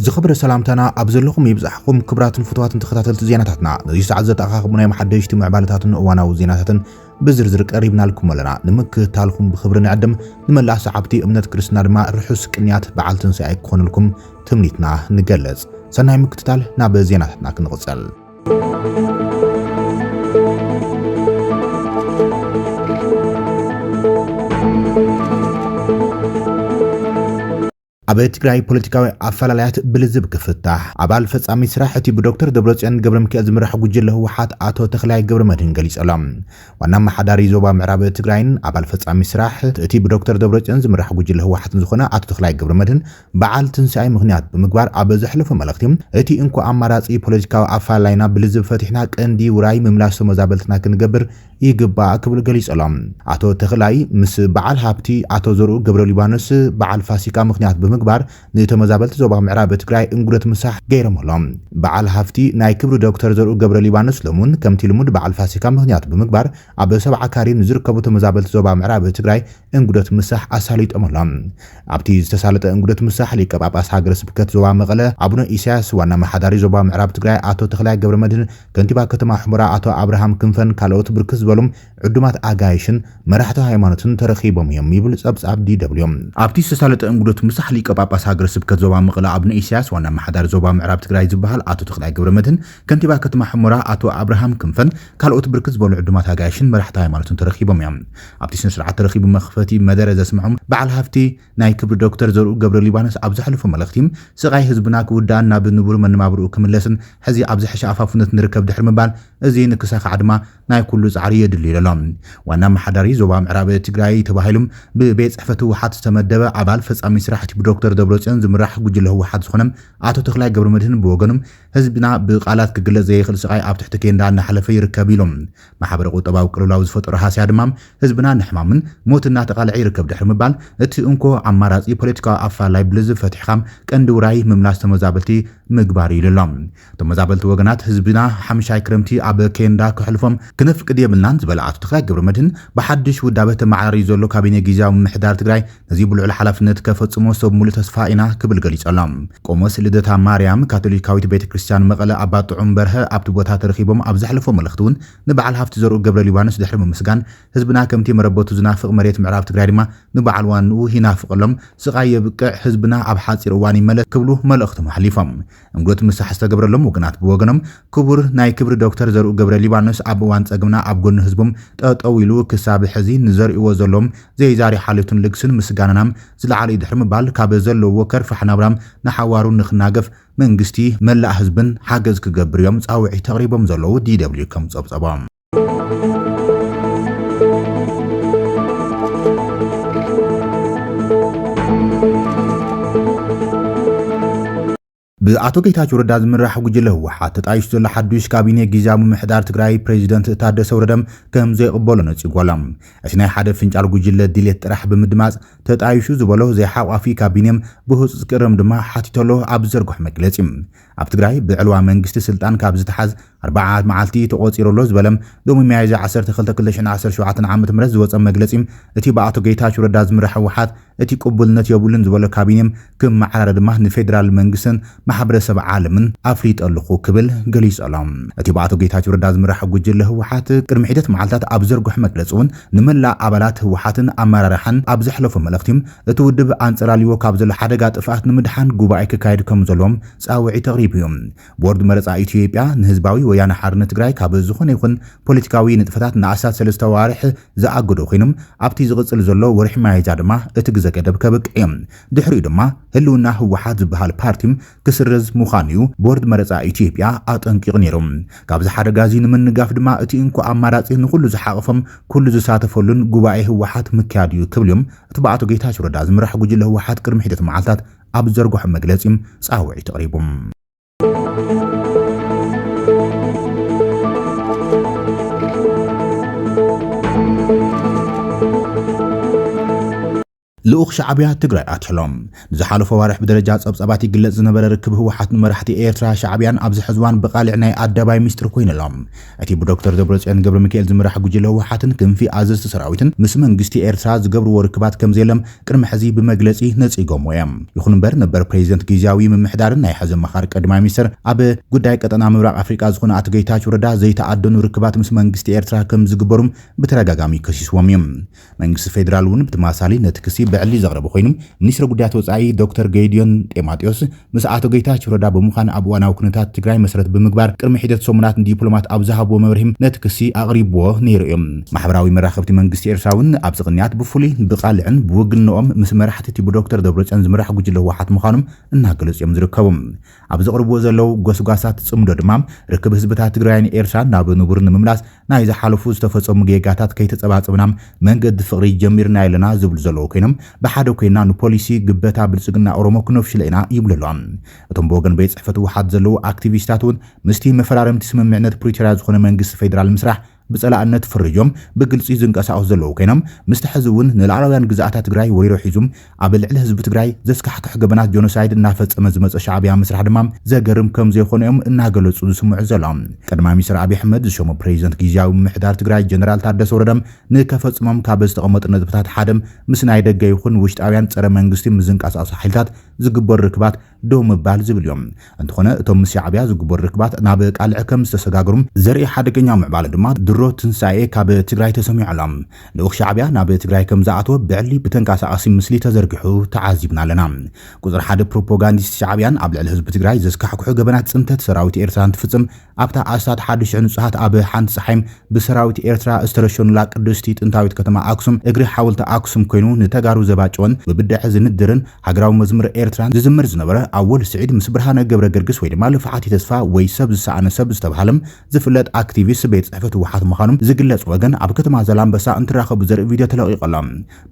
ዝኽብረ ሰላምታና ኣብ ዘለኹም ይብዛሕኹም ክብራትን ፍትዋትን ተኸታተልቲ ዜናታትና ነዚ ሰዓት ዘተኣኻኽቡ ናይ መሓደሽቲ ምዕባለታትን እዋናዊ ዜናታትን ብዝርዝር ቀሪብናልኩም ኣለና። ንምክትታልኩም ብኽብሪ ንዕድም። ንመላእ ሰዓብቲ እምነት ክርስትና ድማ ርሑስ ቅንያት በዓል ትንሣኤ ክኾነልኩም ትምኒትና ንገልጽ። ሰናይ ምክትታል። ናብ ዜናታትና ክንቕጽል። ኣብ ትግራይ ፖለቲካዊ ኣፈላላያት ብልዝብ ክፍታሕ ኣባል ፈጻሚ ስራሕ እቲ ብዶክተር ደብረጽዮን ገብረሚካኤል ዝምራሕ ጉጅለ ህወሓት ኣቶ ተኽላይ ገብረመድህን ገሊጸሎም። ዋና ኣመሓዳሪ ዞባ ምዕራብ ትግራይን ኣባል ፈጻሚ ስራሕ እቲ ብዶክተር ደብረጽዮን ዝምራሕ ጉጅለ ህወሓትን ዝኾነ ኣቶ ተኽላይ ገብረመድህን በዓል ትንሳኤ ምኽንያት ብምግባር ኣብ ዘሕለፎ መልእኽቲ እቲ እንኮ ኣማራጺ ፖለቲካዊ ኣፈላላይና ብልዝብ ፈቲሕና ቀንዲ ውራይ ምምላስ ተመዛበልትና ክንገብር ይግባእ ክብል ገሊጸሎም። ኣቶ ተኽላይ ምስ በዓል ሃብቲ ኣቶ ዘርኡ ገብረሊባኖስ በዓል ፋሲካ ምኽንያት ብምግባር ንተመዛበልቲ ዞባ ምዕራብ ትግራይ እንጉደት ምሳሕ ገይሮምሎም። በዓል ሃፍቲ ናይ ክብሪ ዶክተር ዘርኡ ገብረሊባኖስ ሎምውን ከምቲ ልሙድ በዓል ፋሲካ ምኽንያት ብምግባር ኣብ ሰብዓ ካሬ ንዝርከቡ ተመዛበልቲ ዞባ ምዕራብ ትግራይ እንጉደት ምሳሕ ኣሳሊጦም ኣሎም። ኣብቲ ዝተሳለጠ እንጉደት ምሳሕ ሊቀ ጳጳስ ሃገረ ስብከት ዞባ መቐለ ኣቡነ ኢሳያስ፣ ዋና ኣመሓዳሪ ዞባ ምዕራብ ትግራይ ኣቶ ተኽላይ ገብረመድህን፣ ከንቲባ ከተማ ሑመራ ኣቶ ኣብርሃም ክንፈን ካልኦት ብርክት ዝበሉ ዕዱማት ኣጋይሽን መራሕቲ ሃይማኖትን ተረኺቦም እዮም ይብል ጸብጻብ DW። ኣብቲ ዝተሳለጠ እንጉደት ምሳሕ ሊቀ ጳጳስ ሃገረ ስብከት ዞባ መቐለ ኣቡነ ኢሳያስ፣ ዋና ኣመሓዳሪ ዞባ ምዕራብ ትግራይ ዝበሃል ኣቶ ተኽላይ ገብረመድህን፣ ከንቲባ ከተማ ሑመራ ኣቶ ኣብርሃም ክንፈን ካልኦት ብርክት ዝበሉ ዕዱማት ኣጋይሽን መራሕቲ ሃይማኖትን ተረኺቦም እዮም። ኣብቲ ስነስርዓት ተረኺቡ መኽፈቲ መደረ ዘስምዖም በዓል ሃፍቲ ናይ ክብሪ ዶክተር ዘርኡ ገብረሊባኖስ ኣብ ዘሕለፎ መልእኽቲ፣ ስቓይ ህዝብና ክውዳእን ናብ ንቡር መነባብርኡ ክምለስን ሕዚ ኣብ ዝሐሸ ኣፋፍነት ንርከብ ድሕሪ ምባል እዚ ንክሳኻዕ ድማ ናይ ኩሉ ፃዕሪ የድሊ ኢሎሎ። ዋና ኣመሓዳሪ ዞባ ምዕራብ ትግራይ ተባሂሉ ብቤት ፅሕፈት ህወሓት ዝተመደበ ኣባል ፈፃሚ ስራሕቲ ብዶክተር ደብረፅዮን ዝምራሕ ጉጅለ ህወሓት ዝኾነ ኣቶ ተኽላይ ገብረመድህን ብወገኑ ህዝብና ብቃላት ክግለፅ ዘይኽእል ስቓይ ኣብ ትሕቲ ኬንዳ እናሕለፈ ይርከብ ኢሉ። ማሕበረ ቁጠባዊ ቅልውላው ዝፈጠሮ ሃስያ ድማ ህዝብና ንሕማምን ሞትን እናተቓልዐ ይርከብ ድሕሪ ምባል፣ እቲ እንኮ ኣማራጺ ፖለቲካዊ ኣፈላላይ ብልዝብ ፈቲሕኻ ቀንዲ ውራይ ምምላስ ተመዛበልቲ ምግባር እዩ ኢሉ ኣሎ። ተመዛበልቲ ወገናት ህዝብና ሓምሻይ ክረምቲ ኣብ ኬንዳ ከሕልፎም ክነፍቅድ የብልናን ዝበለ ኣቶ ተኽላይ ገብረመድህን፣ ብሓድሽ ውዳበ ተመዓራርዩ ዘሎ ካቢኔ ጊዚያዊ ምምሕዳር ትግራይ፣ እዚ ብልዑል ሓላፍነት ከፈጽሞ ሰብ ሙሉእ ተስፋ ኢና ክብል ገሊጸሎም። ቆሞስ ልደታ ማርያም ካቶሊካዊት ቤተ ክርስቲያን መቐለ ኣባ ጥዑም በርሀ ኣብቲ ቦታ ተረኺቦም ኣብ ዘሕለፍዎ መልእኽቲ እውን ንበዓል ሃፍቲ ዘርኡ ገብረሊባኖስ ድሕሪ ምምስጋን ህዝብና ከምቲ መረበቱ ዝናፍቕ መሬት ምዕራብ ትግራይ ድማ ንበዓል ዋንኡ ይናፍቐሎም ስቓይ የብቅዕ ህዝብና ኣብ ሓፂር እዋን ይመለስ ክብሉ መልእኽቶም ኣሕሊፎም። እንግዶት ምሳሕ ዝተገብረሎም ወገናት ብወገኖም ክቡር ናይ ክብሪ ዶክተር ዘርኡ ገብረ ሊባኖስ ኣብ እዋን ፀግምና ኣብ ጎኒ ህዝቦም ጠጠው ኢሉ ክሳብ ሕዚ ንዘርእዎ ዘሎም ዘይዛሪ ሓልዮትን ልግስን ምስጋናና ዝለዓለ እዩ ድሕሪ ምባል ካብ ዘለውዎ ከርፋሕ ናብራ ንሓዋሩ ንክናገፍ መንግስቲ መላእ ህዝብን ሓገዝ ክገብር እዮም ፃውዒት ኣቕሪቦም ዘለው። DW ከም ፀብፀቦም። ብኣቶ ጌታቸው ረዳ ዝምራሕ ጉጅለ ህወሓት ተጣይሹ ዘሎ ሓዱሽ ካቢኔ ግዜያዊ ምምሕዳር ትግራይ ፕሬዚደንት ታደሰ ወረደ ከም ዘይቕበሎ ነፂጉ ኣሎ። እቲ ናይ ሓደ ፍንጫል ጉጅለ ድሌት ጥራሕ ብምድማፅ ተጣይሹ ዝበሎ ዘይሓቋፊ ካቢኔ ብህፁፅ ክእረም ድማ ሓቲቱ ኣሎ ኣብ ዝዘርግሖ መግለፂ። ኣብ ትግራይ ብዕልዋ መንግስቲ ስልጣን ካብ ዝተሓዝ ኣርብዓ መዓልቲ ተቖፂሩ ኣሎ ዝበለ ሎሚ ሚያዝያ ዓሰርተ ክልተ ክልተ ሽሕን ዓሰርተ ሸውዓተን ዓመተ ምህረት ዝወፀ መግለፂ እቲ ብኣቶ ጌታቸው ረዳ ዝምራሕ ህወሓት እቲ ቅቡልነት የብሉን ዝበሎ ካቢኔ ክመዓራረ ድማ ንፌዴራል መንግስትን ማሕበረሰብ ዓለምን ኣፍሊጠ ኣለኹ ክብል ገሊፁ ኣሎ። እቲ ብኣቶ ጌታቸው ረዳ ዝምራሕ ጉጅለ ህወሓት ቅድሚ ሒደት መዓልታት ኣብ ዘርግሖ መግለፂ እውን ንመላእ ኣባላት ህወሓትን ኣመራርሓን ኣብ ዘሕለፎ መልእኽቲ እቲ ውድብ ኣንጸላልይዎ ካብ ዘሎ ሓደጋ ጥፍኣት ንምድሓን ጉባኤ ክካየድ ከምዘሎ ጻውዒት ኣቕሪቡ እዩ። ቦርድ መረጻ ኢትዮጵያ ንህዝባዊ ወያነ ሓርነት ትግራይ ካብ ዝኾነ ይኹን ፖለቲካዊ ንጥፈታት ንኣስታት ሰለስተ ኣዋርሕ ዝኣገዶ ኮይኑ ኣብቲ ዝቕጽል ዘሎ ወርሒ ሚያዝያ ድማ እቲ ግዘ ገደብ ከብቅዕ እዩ። ድሕሪኡ ድማ ህልውና ህወሓት ዝበሃል ፓርቲ ክስረዝ ምዃኑ'ዩ ቦርድ መረጻ ኢትዮጵያ ኣጠንቂቑ ነይሩ። ካብዚ ሓደጋ'ዚ ንምንጋፍ ድማ እቲ እንኮ ኣማራጺ ንኹሉ ዝሓቖፈን ኩሉ ዝሳተፈሉን ጉባኤ ህወሓት ምክያድ'ዩ ክብል'ዩም እቲ ብኣቶ ጌታቸው ረዳ ዝምራሕ ጉጅለ ህወሓት ቅድሚ ሒደት መዓልታት ኣብ ዝዘርገሖ መግለጺ ጻውዒት ኣቕሪቡ። ልኡኽ ሻዕብያ ትግራይ ኣትሕሎ። ንዝሓለፉ ኣዋርሕ ብደረጃ ጸብጻባት ይግለጽ ዝነበረ ርክብ ህወሓት ንመራሕቲ ኤርትራ ሻዕብያን ኣብዚ ሕዚ እዋን ብቓልዕ ናይ ኣደባይ ሚስጥር ኮይኑ ኣሎ። እቲ ብዶክተር ደብረጽዮን ገብረሚካኤል ዝምራሕ ጉጅለ ህወሓትን ክንፊ ኣዘዝቲ ሰራዊትን ምስ መንግስቲ ኤርትራ ዝገብርዎ ርክባት ከምዘየለም ቅድሚ ሕዚ ብመግለጺ ነጺጎምዎ እዮም። ይኹን እምበር ነበር ፕሬዚደንት ጊዚያዊ ምምሕዳርን ናይ ሕዚ ኣማኻሪ ቀዳማይ ሚኒስትር ኣብ ጉዳይ ቀጠና ምብራቕ ኣፍሪቃ ዝኾኑ ኣቶ ገይታቸው ረዳ ዘይተኣደኑ ርክባት ምስ መንግስቲ ኤርትራ ከምዝግበሩም ብተደጋጋሚ ከሲስዎም እዩ። መንግስቲ ፌደራል እውን ብተመሳሳሊ ነቲ ክሲ ብዕሊ ዘቕረበ ኮይኑ፣ ሚኒስትሪ ጉዳያት ወፃኢ ዶክተር ገይድዮን ጤማጢዮስ ምስ ኣቶ ገይታቸው ረዳ ብምዃን ኣብ እዋናዊ ኩነታት ትግራይ መሰረት ብምግባር ቅድሚ ሒደት ሰሙናት ንዲፕሎማት ኣብ ዝሃብዎ መብርሂ ነቲ ክሲ ኣቕሪብዎ ነይሩ እዩ። ማሕበራዊ መራኸብቲ መንግስቲ ኤርትራ እውን ኣብዚ ቅንያት ብፍሉይ ብቓልዕን ብውግንነኦም ምስ መራሕቲ እቲ ብዶክተር ደብረፅዮን ዝምራሕ ጉጅለ ህወሓት ምዃኖም እናገለፁ እዮም ዝርከቡ። ኣብ ዘቕርብዎ ዘለዉ ጎስጓሳት ፅምዶ ድማ ርክብ ህዝብታት ትግራይን ኤርትራን ናብ ንቡር ንምምላስ ናይ ዝሓለፉ ዝተፈፀሙ ጌጋታት ከይተፀባፀብና መንገዲ ፍቕሪ ጀሚርናዮ ኣለና ዝብሉ ዘለዉ ኮይኖም ብሓደ ኮይንና ንፖሊሲ ግበታ ብልፅግና ኦሮሞ ክነፍሽሎ ኢና ይብሉ ኣለዉ። እቶም ብወገን ቤት ፅሕፈት ህወሓት ዘለዉ ኣክቲቪስታት እውን ምስቲ መፈራረምቲ ስምምዕነት ፕሪቶርያ ዝኾነ መንግስቲ ፌዴራል ምስራሕ ብፀላእነት ፈሪጆም ብግልፂ ዝንቀሳቐሱ ዘለዉ ኮይኖም ምስቲ ሕዚ እውን ንላዕላውያን ግዝኣታ ትግራይ ወሪሮ ሒዙ ኣብ ልዕሊ ህዝቢ ትግራይ ዘስካሕክሕ ገበናት ጆኖሳይድ እናፈፀመ ዝመፀ ሻዕቢያ ምስራሕ ድማ ዘገርም ከምዘይኾነ እዮም እናገለፁ ዝስምዑ ዘለው። ቀዳማይ ሚኒስትር ኣብይ ኣሕመድ ዝሸሞ ፕሬዚደንት ጊዚያዊ ምምሕዳር ትግራይ ጀነራል ታደሰ ወረደ ንከፈፅሞም ካብ ዝተቐመጡ ነጥብታት ሓደ ምስ ናይ ደገ ይኹን ውሽጣውያን ፀረ መንግስቲ ምዝንቃሳቐሱ ሓይልታት ዝግበሩ ርክባት ደው ምባል ዝብል እዩ። እንተኾነ እቶም ምስ ሻዕብያ ዝግበሩ ርክባት ናብ ቃልዕ ከም ዝተሰጋገሩ ዘርኢ ሓደገኛ ምዕባለ ድማ ድሮ ትንሳኤ ካብ ትግራይ ተሰሚዑ ኣሎ። ልኡኽ ሻዕብያ ናብ ትግራይ ከም ዝኣተወ ብዕሊ ብተንቀሳቓሲ ምስሊ ተዘርጊሑ ተዓዚብና ኣለና። ቁፅሪ ሓደ ፕሮፖጋንዲስት ሻዕብያን ኣብ ልዕሊ ህዝቢ ትግራይ ዘስካሕክሑ ገበናት ፅንተት ሰራዊት ኤርትራ እንትፍፅም ኣብታ ኣስታት ሓዲ ሽሕ ንጹሃት ኣብ ሓንቲ ጸሓይ ብሰራዊት ኤርትራ ዝተረሸኑላ ቅድስቲ ጥንታዊት ከተማ ኣክሱም እግሪ ሓወልቲ ኣክሱም ኮይኑ ንተጋሩ ዘባጨወን ብብደዐ ዝንድርን ሃገራዊ መዝሙር ኤርትራን ዝዝምር ዝነበረ ኣወል ስዒድ ምስ ብርሃነ ገብረገርግስ ወይ ድማ ልፍዓቲ ተስፋ ወይ ሰብ ዝሰኣነ ሰብ ዝተብሃለ ዝፍለጥ ኣክቲቪስት ቤት ጽሕፈት ህወሓት ምዃኑ ዝግለጽ ወገን ኣብ ከተማ ዛላምበሳ እንትራኸቡ ዘርኢ ቪድዮ ተለቒቑ ኣሎ።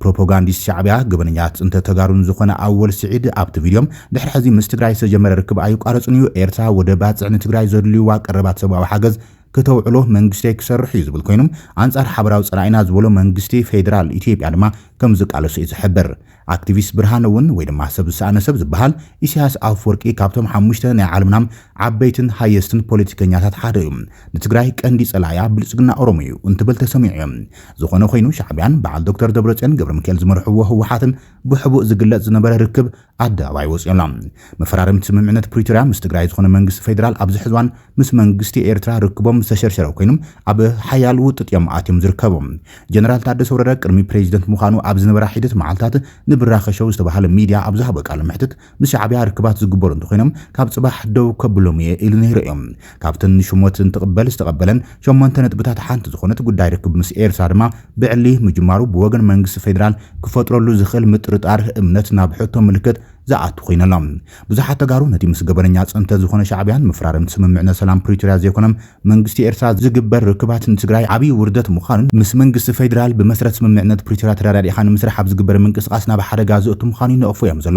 ፕሮፖጋንዲስት ሻዕቢያ ገበነኛ ፅንተት ተጋሩን ዝኾነ ኣወል ስዒድ ኣብቲ ቪድዮ ድሕሪ ሕዚ ምስ ትግራይ ዝተጀመረ ርክብ ኣይቋረፅን እዩ ኤርትራ ወደብ ባፅዕ ንትግራይ ዘድልዩዋ ቀረባት ሰብኣዊ ሓገዝ ክተውዕሎ መንግስተይ ክሰርሕ እዩ ዝብል ኮይኑ ኣንፃር ሓበራዊ ፀላኢና ዝበሎ መንግስቲ ፌዴራል ኢትዮጵያ ድማ ከም ዝቃለሶ እዩ ዝሕብር ኣክቲቪስት ብርሃነ እውን ወይ ድማ ሰብ ዝሰኣነ ሰብ ዝበሃል ኢሳያስ ኣፈወርቂ ካብቶም ሓሙሽተ ናይ ዓለምና ዓበይትን ሃየስትን ፖለቲከኛታት ሓደ እዩ ንትግራይ ቀንዲ ፀላኢያ ብልፅግና ኦሮሞ እዩ እንትብል ተሰሚዑ እዩ ዝኾነ ኾይኑ ሻዕቢያን በዓል ዶክተር ደብረፅዮን ገብረሚካኤል ዝመርሕዎ ህወሓትን ብሕቡእ ዝግለፅ ዝነበረ ርክብ ኣደባባይ ወፂኡ ኣሎ። መፈራረምቲ ስምምዕነት ፕሪቶርያ ምስ ትግራይ ዝኾነ መንግስቲ ፌዴራል ኣብዚ ሕዚ እዋን ምስ መንግስቲ ኤርትራ ርክቦም ዝተሸርሸረ ኮይኑ ኣብ ሓያል ውጥጥ እዮም ኣትዮም ዝርከቡ። ጀነራል ታደሰ ወረደ ቅድሚ ፕሬዚደንት ምዃኑ ኣብ ዝነበራ ሒደት መዓልታት ንብራኸ ሸው ዝተብሃለ ሚድያ ኣብ ዝሃቦ ቃለ መሕትት ምስ ሻዕብያ ርክባት ዝግበሩ እንተኾይኖም ካብ ፅባሕ ደው ከብሎም እየ ኢሉ ነይሩ እዩ። ካብተን ንሹመት እንትቕበል ዝተቐበለን ሸሞንተ ነጥብታት ሓንቲ ዝኾነት ጉዳይ ርክብ ምስ ኤርትራ ድማ ብዕሊ ምጅማሩ ብወገን መንግስቲ ፌዴራል ክፈጥረሉ ዝኽእል ምጥርጣር እምነት ናብ ሕቶ ምልክት ዝኣቱ ኮይኑ ኣሎ። ብዙሓት ተጋሩ ነቲ ምስ ገበነኛ ፅንተት ዝኾነ ሻዕብያን ምፍራርም ስምምዕነት ሰላም ፕሪቶርያ ዘይኮነም መንግስቲ ኤርትራ ዝግበር ርክባት ንትግራይ ዓብይ ውርደት ምዃኑን ምስ መንግስቲ ፌዴራል ብመሰረት ስምምዕነት ፕሪቶርያ ተረዳዲእኻ ንምስራሕ ኣብ ዝግበር ምንቅስቓስ ናብ ሓደጋ ዘእቱ ምዃኑ ይነቕፉ እዮም ዘሎ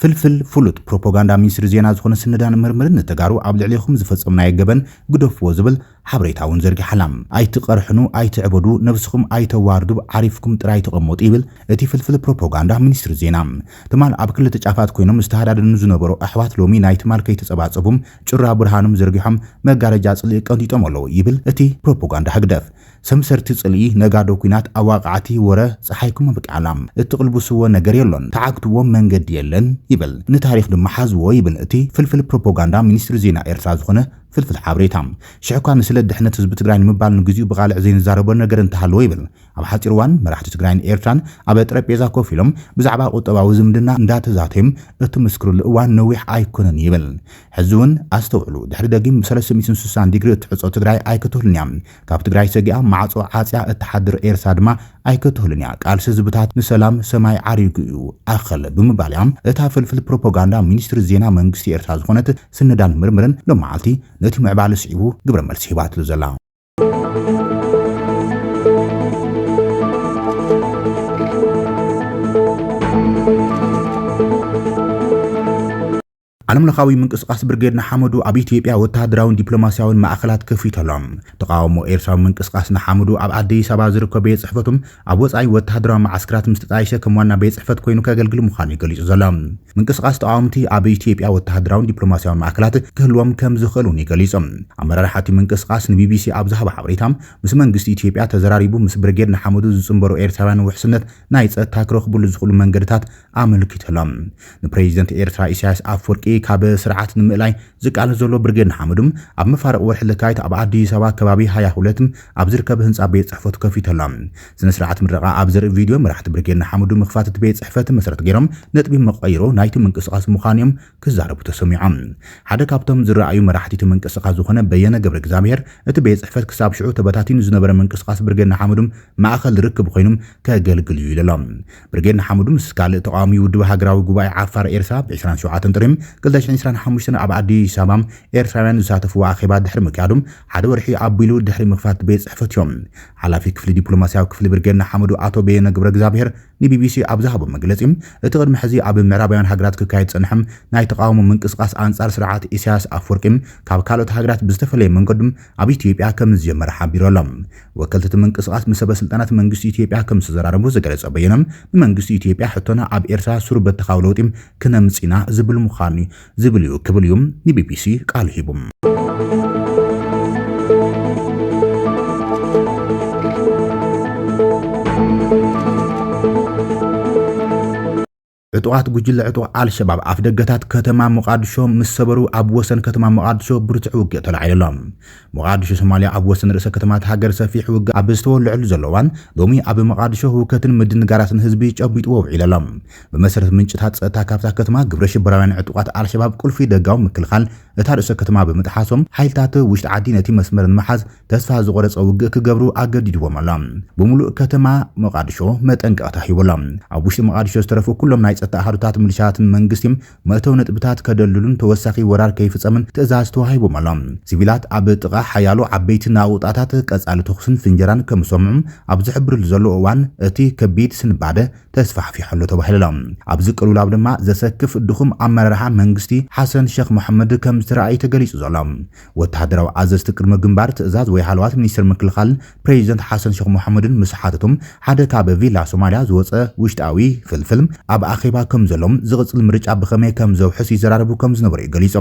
ፍልፍል ፍሉጥ ፕሮፖጋንዳ ሚኒስትሪ ዜና ዝኾነ ስነዳን ምርምርን ንተጋሩ ኣብ ልዕሌኹም ዝፈፀምናዮ ገበን ግደፍዎ ዝብል ሓበሬታ እውን ዘርጊሓ ኣላ። ኣይትቐርሕኑ፣ ኣይትዕበዱ፣ ነብስኹም ኣይተዋርዱ፣ ዓሪፍኩም ጥራይ ተቐመጡ ይብል እቲ ፍልፍል ፕሮፖጋንዳ ሚኒስትሪ ዜና። ትማል ኣብ ክልተ ጫፋት ኮይኖም ዝተሃዳደኑ ዝነበሩ ኣሕዋት ሎሚ ናይ ትማል ከይተፀባፀቡም ጩራ ብርሃኖም ዘርጊሖም መጋረጃ ጽልኢ ቀንጢጦም ኣለዉ ይብል እቲ ፕሮፖጋንዳ ህግደፍ። ሰምሰርቲ ጽልኢ፣ ነጋዶ ኩናት፣ ኣዋቃዕቲ ወረ ጸሓይኩም ኣብቂዓላ። እትቅልብስዎ ነገር የሎን። ተዓግትዎም መንገዲ የለን ይብል። ንታሪኽ ድማ ሓዝዎ ይብል እቲ ፍልፍል ፕሮፖጋንዳ ሚኒስትሪ ዜና ኤርትራ ዝኾነ ፍልፍል ሓበሬታ። ሽሕ'ኳ ንስለ ድሕነት ህዝቢ ትግራይ ንምባል ንግዚኡ ብቃልዕ ዘይንዛረቦ ነገር እንተሃለወ ይብል ኣብ ሓፂር እዋን መራሕቲ ትግራይን ኤርትራን ኣብ ጠረጴዛ ኮፍ ኢሎም ብዛዕባ ቁጠባዊ ዝምድና እንዳተዛተዩ እትምስክርሉ እዋን ነዊሕ ኣይኮነን ይብል። ሕዚ እውን ኣስተውዕሉ ድሕሪ ደጊም ብ ሰለስተ ሚእትን ስሳን ዲግሪ እትሕፆ ትግራይ ኣይክትህሉን እያ። ካብ ትግራይ ሰጊኣ ማዕፆ ዓፅያ እትሓድር ኤርትራ ድማ ኣይክትህሉን እያ። ቃልሲ ህዝብታት ንሰላም ሰማይ ዓሪጉ እዩ ኣኸለ ብምባል እያ እታ ፍልፍል ፕሮፖጋንዳ ሚኒስትሪ ዜና መንግስቲ ኤርትራ ዝኾነት ስነዳን ምርምርን ሎማዓልቲ ነቲ ምዕባለ ስዒቡ ግብረ መልሲ ሂባትሉ ዘላ። ዓለምለኻዊ ምንቅስቓስ ብርጌድ ንሓመዱ ኣብ ኢትዮጵያ ወተሃደራውን ዲፕሎማስያውን ማእኸላት ከፊቱ ኣሎ። ተቃውሞ ኤርትራዊ ምንቅስቓስ ንሓመዱ ኣብ ኣዲስ ኣበባ ዝርከብ ቤት ጽሕፈቱም ኣብ ወጻኢ ወተሃደራዊ መዓስከራት ምስ ተጣየሸ ከም ዋና ቤት ጽሕፈት ኮይኑ ከገልግል ምዃኑ'ዩ ገሊጹ ዘሎ። ምንቅስቓስ ተቓወምቲ ኣብ ኢትዮጵያ ወተሃደራውን ዲፕሎማስያውን ማእከላት ክህልዎም ከም ዝኽእል'ውን'ዩ ገሊጹ። ኣመራርሓ'ቲ ምንቅስቓስ ንቢቢሲ ኣብ ዝሃቦ ሓበሬታ፣ ምስ መንግስቲ ኢትዮጵያ ተዘራሪቡ ምስ ብርጌድ ንሓመዱ ዝጽንበሩ ኤርትራውያን ውሕስነት ናይ ጸጥታ ክረኽብሉ ዝኽእሉ መንገድታት ኣመልኪቱ ኣሎ። ንፕረዚደንት ኤርትራ ኢሳያስ ኣፍወርቂ ካብ ስርዓት ንምእላይ ዝቃለስ ዘሎ ብርጌድ ንሓመዱ፣ ኣብ መፋርቕ ወርሒ ለካቲት ኣብ ኣዲስ ኣበባ ከባቢ ሃያ ሁለት ኣብ ዝርከብ ህንጻ ቤት ጽሕፈቱ ከፊቱ ኣሎ። ስነ-ስርዓት ምረቓ ኣብ ዘርኢ ቪድዮ፣ መራሕቲ ብርጌድ ንሓመዱ ምኽፋት እቲ ቤት ጽሕፈት መሰረት ገይሮም ነጥቢ መቐይሮ ናይቲ ምንቅስቓስ ምዃኑ'ዮም ክዛረቡ ተሰሚዖም። ሓደ ካብቶም ዝረኣዩ መራሕቲ'ቲ ምንቅስቓስ ዝኾነ በየነ ገብረእግዝኣብሄር፣ እቲ ቤት ጽሕፈት ክሳብ ሽዑ ተበታቲኑ ዝነበረ ምንቅስቓስ ብርጌድ ንሓመዱ ማእከል ርክብ ኮይኑ ከገልግል'ዩ ኢሉ'ሎ። ብርጌድ ንሓመዱ ምስ ካልእ ተቓዋሚ ውድብ ሃገራዊ ጉባኤ ዓፋር ኤርትራ ብ ዕስራን ሸውዓተን ጥሪ ክልተ ሽሕን ዕስራን ሓሙሽተን ኣብ ኣዲስ ኣበባ ኤርትራውያን ዝሳተፍዎ ኣኼባ ድሕሪ ምክያዱ ሓደ ወርሒ ኣቢሉ ድሕሪ ምኽፋት ቤት ጽሕፈት እዮም ሓላፊ ክፍሊ ዲፕሎማስያዊ ክፍሊ ብርጌድ ንሓመዱ ኣቶ በየነ ገብረእግዚኣብሄር ንቢቢሲ ኣብ ዝሃቦ መግለጺ እቲ ቅድሚ ሕዚ ኣብ ምዕራባውያን ሃገራት ክካየድ ዝጸንሐ ናይ ተቓውሞ ምንቅስቓስ ኣንጻር ስርዓት ኢሳያስ ኣፍወርቂ ካብ ካልኦት ሃገራት ብዝተፈለየ መንገዱ ኣብ ኢትዮጵያ ከምዝጀመረ ሓቢሩ ኣሎ። ወከልቲ እቲ ምንቅስቓስ ንሰበስልጣናት መንግስቲ ኢትዮጵያ ከምዝተዘራረቡ ዝገለጸ በየነ፣ ንመንግስቲ ኢትዮጵያ ሕቶና ኣብ ኤርትራ ሱር-በተኻዊ ለውጢ ክነምጽእ ኢና ዝብል ምዃኑ'ዩ ዝብል'ዩ ክብል'ዩ ንቢቢሲ ቃሉ ሂቡ። ዕጡቓት ጉጅለ ዕጡቕ ኣልሸባብ ኣፍደገታት ከተማ ሞቓድሾ ምስ ሰበሩ ኣብ ወሰን ከተማ ሞቓድሾ ብርቱዕ ውግእ ተላዒሉ ኣሎ። ሞቓድሾ ሶማልያ ኣብ ወሰን ርእሰ ከተማ'ታ ሃገር ሰፊሕ ውግእ ኣብ ዝተወልዐሉ ዘሎ እዋን፣ ሎሚ ኣብ ሞቓድሾ ህውከትን ምድንጋራትን ህዝቢ ጨቢጥዎ ውዒሉ ኣሎ። ብመሰረት ምንጭታት ጸጥታ ካብታ ከተማ ግብረሽበራውያን ዕጡቓት ኣልሸባብ ቁልፊ ደጋዊ ምክልኻል እታ ርእሰ ከተማ ብምጥሓሶም፣ ሓይልታት ውሽጢ ዓዲ ነቲ መስመር ንምሓዝ ተስፋ ዝቖረጸ ውግእ ክገብሩ ኣገዲድዎም ኣሎ። ብምሉእ ከተማ ሞቓድሾ መጠንቀቕታ ሂቡ ኣሎ። ኣብ ውሽጢ ሞቓድሾ ዝተረፉ ኩሎም ናይ ጸጥታ ኣሃዱታት ምልሻታት ንመንግስቲ መእተዊ ነጥብታት ከደልድሉን ተወሳኺ ወራር ከይፍጸምን ትእዛዝ ተዋሂቡም ኣሎ። ሲቪላት ኣብ ጥቓ ሓያሎ ዓበይቲ ናቑጣታት ቀጻሊ ተኹስን ፍንጀራን ከም ዝሰምዑ ኣብ ዝሕብርሉ ዘሎ እዋን እቲ ከቢድ ስንባደ ተስፋሕፊሑ ኣሎ ተባሂሉ ኣሎ። ኣብዚ ቅልውላው ድማ ዘሰክፍ ድኹም ኣመራርሓ መንግስቲ ሓሰን ሸኽ መሓመድ ከም ዝተራእየ እዩ ተገሊጹ ዘሎ። ወተሃደራዊ ኣዘዝቲ ቅድመ ግንባር ትእዛዝ ወይ ሃለዋት ሚኒስትሪ ምክልኻል ፕረዚደንት ሓሰን ሸኽ ሞሓሙድን ምስ ሓተቶም ሓደ ካብ ቪላ ሶማልያ ዝወጸ ውሽጣዊ ፍልፍል ኣብ ኣኼባ ከም ዘሎን ዝቕጽል ምርጫ ብኸመይ ከም ዘውሕስ ይዘራረቡ ከም ዝነበሩ'ዩ ገሊጹ።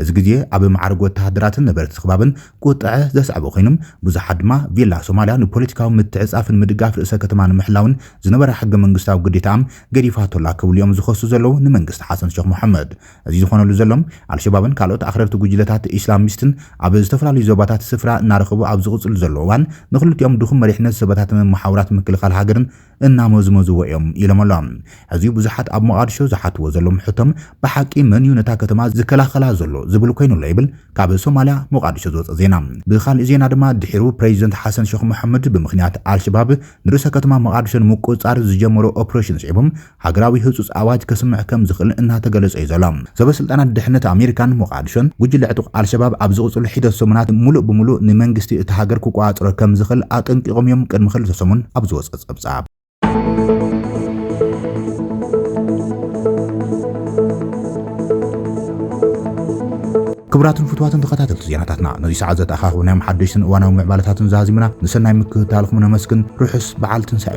እዚ ግዜ ኣብ መዓርግ ወተሃደራትን ነበርቲ ስኽባብን ቁጥዐ ዘስዐበ ኮይኑ፣ ብዙሓት ድማ ቪላ ሶማልያ ንፖለቲካዊ ምትዕጽጻፍን ምድጋፍ ርእሰ ከተማ ንምሕላውን ዝነበራ ሕገ መንግስታዊ ግዴታኣ ገዲፋቶ'ላ ክብሉ'ዮም ዝኸሱ ዘለዉ ንመንግስቲ ሓሰን ሸኽ ሞሓሙድ። እዚ ዝኾነሉ ዘሎ፣ ኣልሸባብን ካልኦት ኣኽረርቲ ጉጅለታት ኢስላሚስትን ኣብ ዝተፈላለዩ ዞባታት ስፍራ እናረኸቡ ኣብ ዝቕፅሉ ዘሎ እዋን ንኽልቲኦም ድኹም መሪሕነት ዝበታተነ መሓውራት ምክልኻል ሃገርን እናመዝመዝዎ እዮም ኢሎም ኣሎም። ሕዚ ብዙሓት ኣብ ሞቓድሾ ዝሓትዎ ዘሎም ሕቶም ብሓቂ መን እዩ ነታ ከተማ ዝከላኸላ ዘሎ ዝብል ኮይኑ ኣሎ ይብል ካብ ሶማልያ ሞቓድሾ ዝወፀ ዜና። ብኻሊእ ዜና ድማ ድሒሩ ፕረዚደንት ሓሰን ሸኽ መሓመድ ብምኽንያት ኣልሸባብ ንርእሰ ከተማ መቓድሾ ንምቁፅፃር ዝጀመሮ ኦፕሬሽን ስዒቦም ሃገራዊ ህጹጽ ኣዋጅ ከስምዕ ከም ዝኽእል እናተገለጸ'ዩ ዘሎ። ሰበስልጣናት ድሕነት ኣሜሪካን ሞቓድሾን፣ ጉጅለ ዕጡቕ ኣልሸባብ ኣብ ዝቕጽሉ ሒደት ሰሙናት ምሉእ ብምሉእ ንመንግስቲ እታ ሃገር ክቆጻጸሮ ከም ዝኽእል ኣጠንቂቖም'ዮም ቅድሚ ክልተ ሰሙን ኣብ ዝወጸ ጸብጻብ። ክቡራትን ፍትዋትን ተኸታተልቲ ዜናታትና ነዚ ሰዓት ዘተኣኻኸብናዮም ሓደሽትን እዋናዊ ምዕባለታትን ዛዚምና ንሰናይ ምክትታልኩም ነመስግን። ርሑስ በዓል ትንሳኤ!